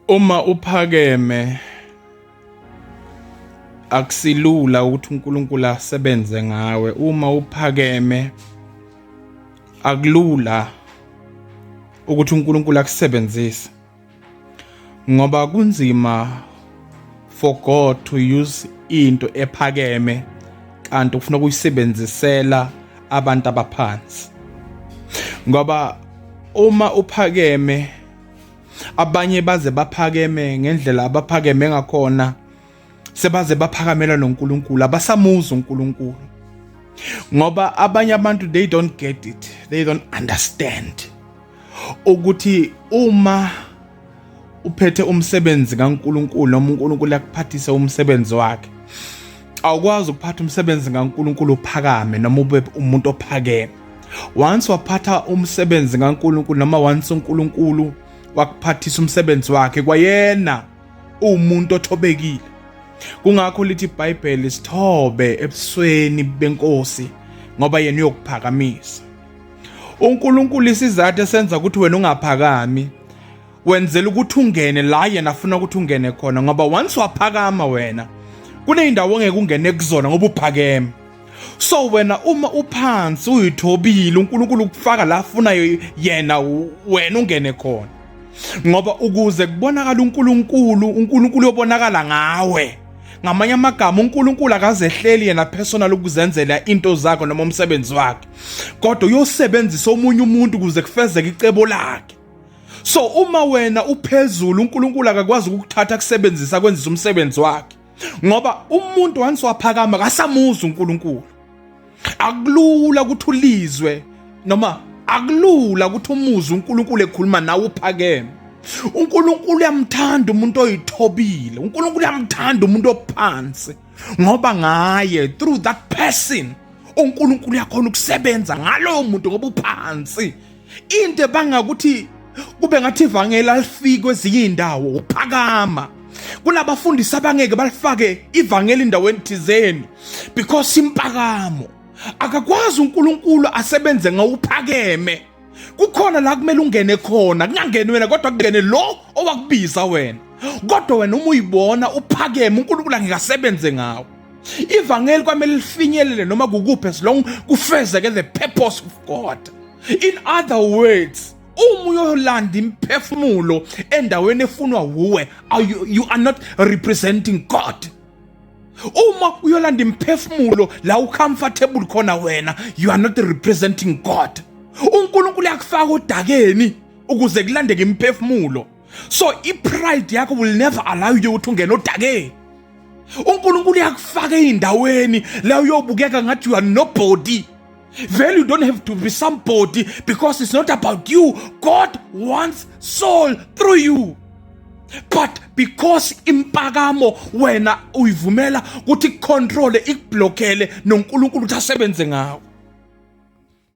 Uma uphakeme akusilula ukuthi uNkulunkulu asebenze ngawe uma uphakeme akulula ukuthi uNkulunkulu akusebenzise ngoba kunzima for God to use into ephakeme kanti ufuna ukuyisebenzisela abantu abaphansi ngoba uma uphakeme abanye baze baphakeme ngendlela abaphakeme ngakhona sebaze baphakamela noNkulunkulu abasamuzi uNkulunkulu ngoba abanye abantu they don't get it they don't understand ukuthi uma uphethe umsebenzi kaNkuluNkulu noma uNkulunkulu akuphathise umsebenzi wakhe awukwazi ukuphatha umsebenzi ngaNkulunkulu uphakame noma ube umuntu ophakeme once waphatha umsebenzi ngaNkulunkulu noma once uNkulunkulu wakuphathisa umsebenzi wakhe kwayena uwumuntu othobekile kungakho lithi iBhayibheli sithobe ebusweni benkosi ngoba yena uyokuphakamisa uNkulunkulu isizathu esenza ukuthi wena ungaphakami wenzela ukuthi ungene la yena afuna ukuthi ungene khona ngoba once waphakama wena kuneyindawo ongeke ungene kuzona ngoba uphakeme so wena uma uphansi uyithobile uNkulunkulu ukufaka la afunayo yena wena ungene khona ngoba ukuze kubonakala uNkulunkulu uNkulunkulu uyobonakala ngawe ngamanye amagama uNkulunkulu akazehleli yena personal ukuzenzela into zakhe noma umsebenzi wakhe kodwa uyosebenzisa omunye umuntu ukuze kufezeke icebo lakhe so uma wena uphezulu uNkulunkulu akakwazi ukukuthatha kusebenzisa kwenzisa umsebenzi wakhe ngoba umuntu once waphakama kasamuza uNkulunkulu akulula ukuthi ulizwe noma akulula ukuthi umuze uNkulunkulu ekhuluma nawe uphakeme uNkulunkulu uyamthanda umuntu oyithobile uNkulunkulu uyamthanda umuntu ophansi ngoba ngaye through that person uNkulunkulu uyakhona ukusebenza ngalowo muntu ngoba uphansi into ebanga ukuthi kube ngathi ivangeli alifiki kwezinye iy'ndawo uphakama kunabafundisi abangeke balifake ivangeli endaweni thizeni because impakamo akakwazi uNkulunkulu asebenze ngawuphakeme kukhona la kumele ungene khona kungangeni wena kodwa kungene lo owakubiza wena kodwa wena uma uyibona uphakeme uNkulunkulu angeke asebenze ngawo ivangeli kwamele lifinyelele noma kukuphi as long kufezeke the purpose of god in other words uma uyolanda imphefumulo endaweni efunwa wuwe you, you are not representing god uma uyolanda imphefumulo la ucomfortable khona wena you are not representing god unkulunkulu yakufaka odakeni ukuze kulandeke imphefumulo so ipride yakho will never allow you ukuthi ungene odakeni unkulunkulu uyakufaka ey'ndaweni la uyobukeka ngathi you are nobody Well, you don't have to be somebody because it's not about you. God wants soul through you. but because impakamo wena uyivumela ukuthi icontrole ikublockele noNkulunkulu ukuthi asebenze ngawe